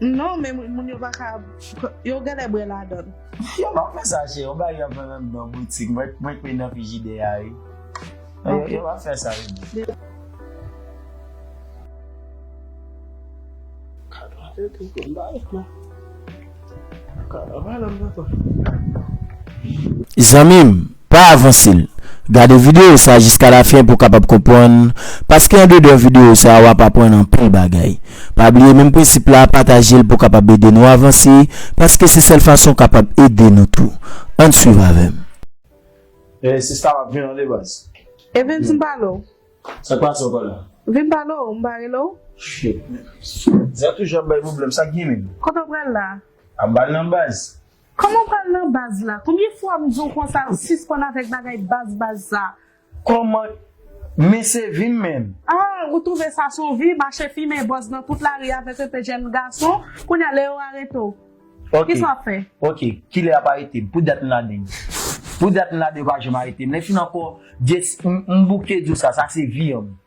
Non men moun yo pa ka yo genlè bwè ladann. Yo pa fè sa cheri, yon bagay yo ap vann anndan boutik, mwen kwè nan frijidè a wi. Ok. Yo pa fè sa wi. Zanmim! Pa avanse l. Gade videyo sa jiska lafen pou w kapab konprann, paske andedan videyo sa wap aprann anpil bagay. Pa bliye menm prensip la, pataje l pou kapab ede nou avanse, paske se sèl fason w kapab ede nou tou. Ann swiv avè m. Hey sista map vin ale baz. Evens m pale w. Sak pase anko la? Vin pale w m pa rele w? Shit man. Zè toujou ap bay pwoblèm sak gnyn menm? Kote w pral la? Ap bal nan baz. Koman ou pral nan baz la. Konbyen fwa m di w konsa sispann avèk bagay baz baz sa. Koman Men se vi m menm. Ah ou twouve sa s on vi, mache fimen bòz nan tout lari avèk anpe jèn gason, kounye a lè yo arete w kisa w ap fè? Ok kilè y ap arete m? Pou dat m la den? Pou dat m la den yo pa janm arete m. Lè fin ankò yes m bouke di w sa, sa se vi an.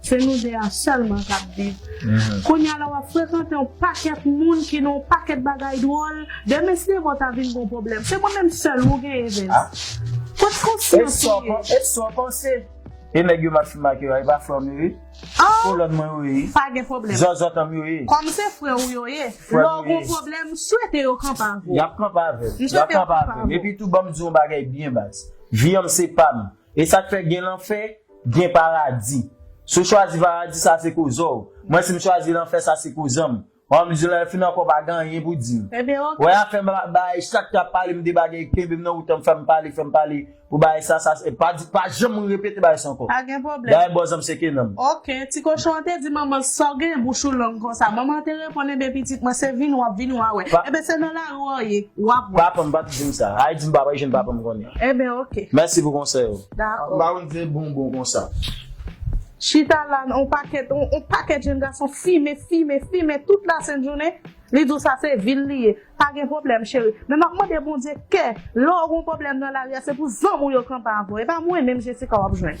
Se nou 2 a sèlman kap viv. Kounya la wap frekante yon pakèt moun ki nan yon pakèt bagay dwòl, demen si demen w ta vin gon pwoblèm, se mwen menm sèl ou genyen Evens. Kot konsyans ou ye? E sa w panse? E nèg yo map fim ak yo a e pa frè w m yo ye? Kolòn mwen yo ye? Pa gen pwoblèm. Zòzòtò m yo ye? Kòm se frè w yo ye, lè w gon pwoblèm, m swete yo kanpe avè w. Yap kanpe avè m. M swete yo kanpe avè w. Epi tou banm di w yon bagay byen baz. Vi an m se pa m. E sak fè gen lanfè, gen paradi. Si w chwazi paradi sa se koze w. Mwen si m chwazi lanfè sa se koze m. Wè yon mizilman lè fin ankò pa gen anyen pou di m. Ebyen ok. Wè afè bagay chak trap pale m de bagay kenbe m nan wout an fè m pale fè m pale pou bagay sa sa se pa di pa janm repete bagay sa ankò. Pa gen pwoblèm. Bagay bòz an m seke nan m. Ok, ti kochon an te di manman l sa w gen bouch ou long konsa. Manman an te reponn enben pitit mwen se vin wap vin wa wè. Enben se nan lari w ye wap wè. Papa m pat di m sa. Ay di m papa m je n papa m konnen. Enben ok. Mèsi pou konsèy ou. Dakò. M pa konn se bonbon konsa. Chita la on pakèt on pakèt jenn gason fimen fimen fimen tout la sent jounen li di w sa se vi l li ye pa gen pwoblèm cheri men map mande Bondye kè lè w gon pwoblèm nan lari a se pou zanm ou yo kanpe avè w e pa mwen menm Jessica wap jwenn.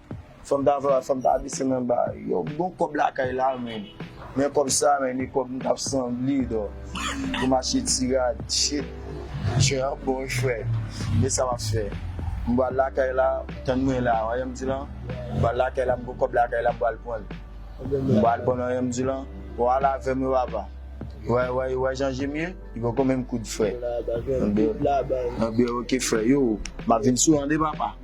Fòm ta travay fòm ta vese nan ba yon bon kòb lakay la menn men kòb sa menn e kòb m tap sanble dò pou m achte ti rad shit chen an bon wi frè men sa map fè m bal lakay la tann mwen la wè janm di lan m bal lakay la m gon kòb lakay la m bal pranl m bal pranl wè janm di lan ou al avèm wi papa ou wè jan jem ye li poko menm kout frè anbeyou ok frè yoo map vin sou an de papa.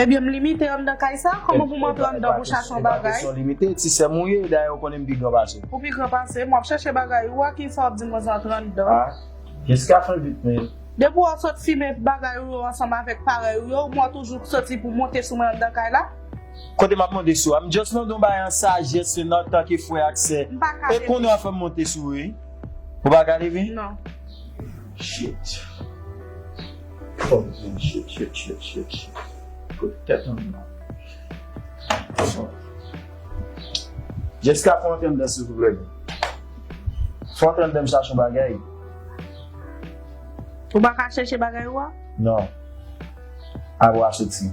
Ebyen m limite anndan kay sa? Kòman pou m antre anndan pou chache yon bagay? E pa kesyon limite, ti sè m ou ye, dayè ou konnen m pi gran pase w. Ou pi gran pase m, w ap chache bagay ou a, kisa w ap di m lè w antre anndan? A, Jessica fè vit men. Depi w sot fimen bagay ou yo ansanm avèk parèy ou yo, m wè w toujou soti pou monte sou mwen anndan kay la. Kote m ap monte sou a? M just mande yon bagay an sajès e nan tan ke frè ak sè. M pa ka leve. E konnen w ap fè m monte sou ou wi? Ou pa ka leve? Non. Shit. Fòk di m sye sye sye sye sye kote tèt anm nan bon Jesca fon tandem silvouplè fon tandem chache yon bagay Ou pa ka chèche bagay ou a? Non Apre w a soti.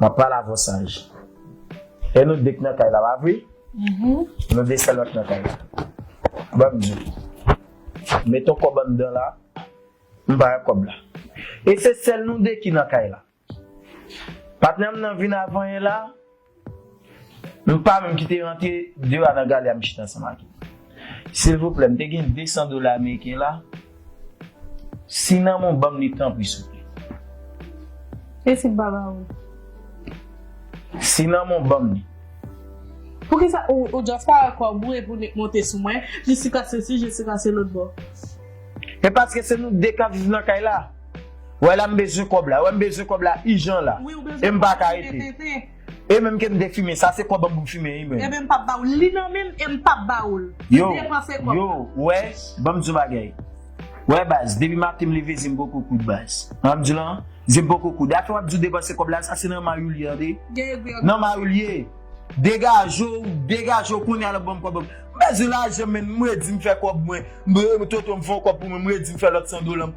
Map pale avw saj. E nou 2 k nan kay la pa vre? Nou 2 sèl ank nan kay la. Banm di. Met on kòb anndan la. M pa wè kòb la. E se sèl nou 2 ki nan kay la. Patnèm nan vin a vanyen la. M pa menm ki te rantre de a nan gale a m chita ansanm ak yo. Silvouplè m te gen 200 dola ameriken la si nan mwen w banm li tanpri souple. E si m pa ba ou? Si nan mwen w banm li. Poukisa ou just pa wè kòb ou epi ou nik monte sou mwen, Jessica sesi, Jessica se lòt bò. E paske se nou 2 kap viv nan kay la. Wè la m bezwen kòb la, wè m bezwen kòb la ijan la e m paka rete. E menm ke m te fimen, sa se kòb m pou m fimen wi menm. E menm m pap ba ou l. Li nan menm e m pap ba ou l. Yo, yo, ou wè, ban m di w yon bagay. Ou wè baz, depi maten m leve zye m poko koud baz. Sa m di w lan an, zye m poko koud. Afè w ap di w depanse kòb la, sa se nan may ou l ye an de. Nan may ou l ye. Degaje w, degaje w kounye a la ban m kòb m. M bezwen lajan menm, m redi m fè kòb mwen. M redi m fè yon kòb pou mwen, m redi m fè lòt 100 dola m.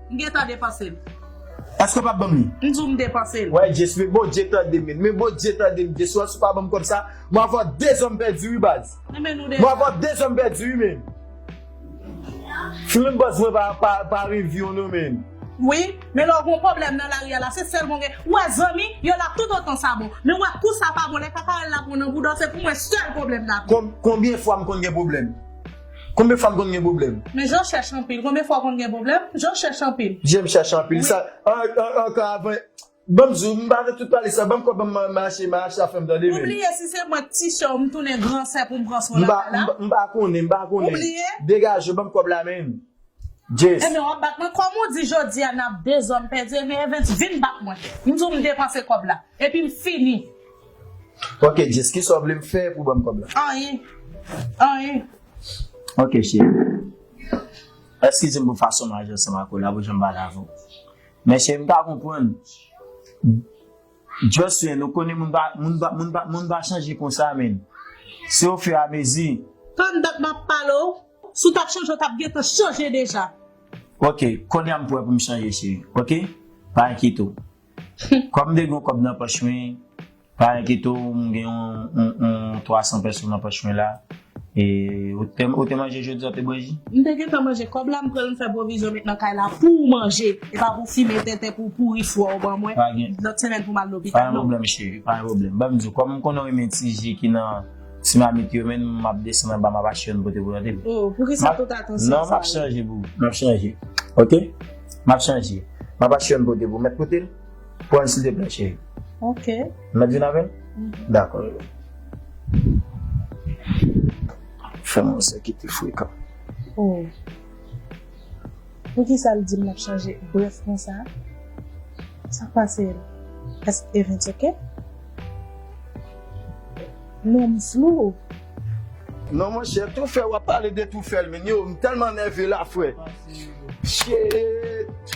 M gentan depanse l. Eske w pap banm li? M di w m depanse l. Wè Jess men Bondye tande men. Men Bondye tande m Jess wè si w pa banm kòb sa m ap vant de zan m pèdi wi baz. Renmen nou deja. M ap vant de zan m pèdi wi men. Film baz mwen pa review non men. Wi, men lè w gon pwoblèm nan lari a la se sèl bon gen. Ou wè zanmi yo la tout otan sa bon. Men ou wè kou sa pa bon lè kakarèl la pran w nan bouda w se pou mwen sèl pwoblèm la ap gen. Konbyen fwa m konn gen pwoblèm? Konbyen fwa m konn gen pwoblèm? Men Jan chèch anpil. Konbyen fwa w konn gen pwoblèm? Jan chèch anpil. Jan chèch anpil. Sa ankò avan. Ban m di w, m pa nan tout pale sa. Ban m kòb m mache, m a achte afè m tande men. Ou bliye si se mwen k ti sè w m tounen gran sè pou m pran swen lakay la? M pa konnen, m pa konnen. Ou bliye? Degaje w ban m kòb la men. Jess. Ebyen wap bat mwen kòm ou di jodia nap dezòn pèdi ebyen Evens vin bat mwen m di w m depanse kòb la epi m fini. Ok Jess kisa w vle m fè pou banm kòb la? Anyen anyen. Ok cheri eskize m pou fason m aji ansanm ak ou la pou jan m pale avè w men cheri m ka konprann. Jocelyn ou konnen moun pa moun pa moun pa moun pa chanje konsa menn se o fur a mezi. Tann dat map pale w, si w tap chanje w tap gentan chanje deja. Ok konya m pwè pou m chanje cheri ok pa enkyete w kòm m te gen yon kòb nan pòch mwen pa enkyete w m gen yon yon 300 pèso nan pòch mwen la E ou te manje jodi a ou te bwe ji? M te gentan manje kòb la m pran m fè pwovizyon met nan kay la pouw manje e pa pou fimen tenten pouw pouri fwa ou ban mwen lòt semèn poum al lopital non. Pa gen pwoblèm cheri pa gen pwoblèm banm diw kòm m konnen ou renmen ti ji ki nan ti mamit yo men map desann anba map achte youn pote pou tande m. Oh poukisa tout atansyon sa la? Non map chanje boo map chanje ok map chanje map achte youn pote pou mèt potel. Pranl silteplè cheri. Ok. M met vin avèl? Dakò rele m. Fèm yon sè kite frekan. Oh. Poukisa l di m l ap chanje brèf konsa? Sa k pase l? Eske evens ok? Non m flou. Non monchè toufe wap pale de toufe l menn yo m telman nève la fre. Shit.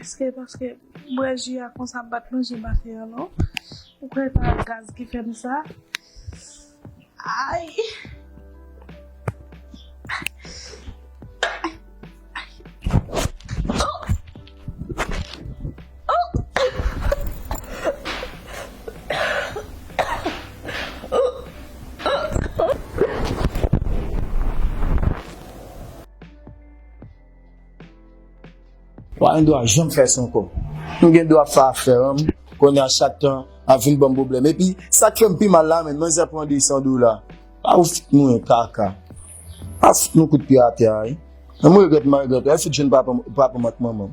Eske paske m bwè ji a konsa m pat manje maten an non. Ou kwè se pa gaz ki fè m sa. Ay! Wa yon dwa janm fè sa ankò. M gen dwa pa fè an kounye a chak tan ap vin banm pwoblèm epi sak fèm pi mal la menn manzè pran 200 dola pa ou fout mwen kaka pa fout mwen kout pye atè a wi m regrèt m pa regrèt ou fout jwenn papam ak manmanm.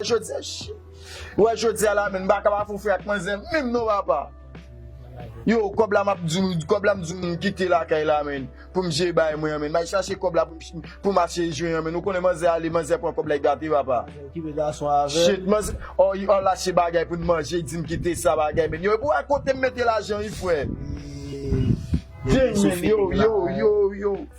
Jodi a chi. Ou wè jodi a la men m pa ka pa fè w fè ak manzè menm non papa. Yo kòb la map di w kòb la m di w m kite lakay la men pou m jeye bagay mwen an men. M'al chache kòb la pou m achte jwen an men. Ou konnen manzè ale manzè pran kòb la e gate papa. Shit manzè o i al achte bagay pou n manje di m kite sa bagay men. Yo epi w wè kote m mete lajan wi frè. Deng men yo yo yo yo.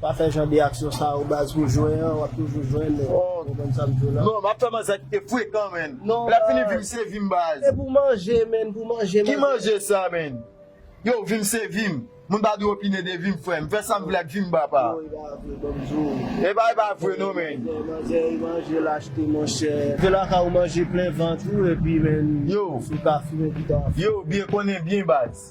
Pa fè jan de aksyon sa yo baz pou jwen an wap toujou jwenn ou konprann sam diw la. Non map fè manzè a kite frekan menn lè fini vim se vim baz. Se pou manje menn pou manje manzè. Ki manje sa menn yow vim se vim moun pa dwe opine de vim frèm m fè sam vle ak vim papa. Non epa vre banm diw. Epa epa vre non menn. Manzè e manje l achte monchè. Ke laka ou manje plen vant ou epi menn ou ka fume pita. Yow byen konnen byen baz.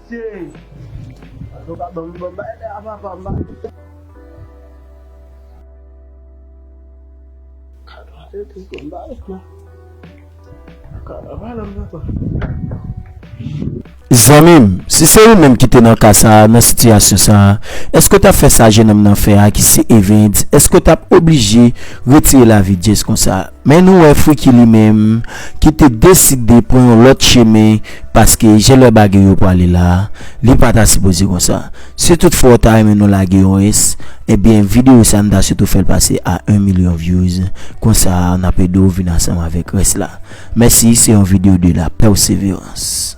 Zanmi m, si se ou menm ki te nan ka sa a, nan sitiyasyon sa a, èske w t ap fè sa jennonm nan fè a ki se Evens? Èske w t ap oblije retire lavi Jess konsa? Men nou wè Friki li menm ki te deside pran yon lòt chemen paske je lè bagay yo pwale la li pa ta sipoze konsa. Si tout fwa ou ta renmen nou lage yon res ebyen video sa nou ta swetew fèl pase a 1 milyon vyouz konsa nap edew vin ansanm avèk res la. Mèsi se yon video de la perseverance.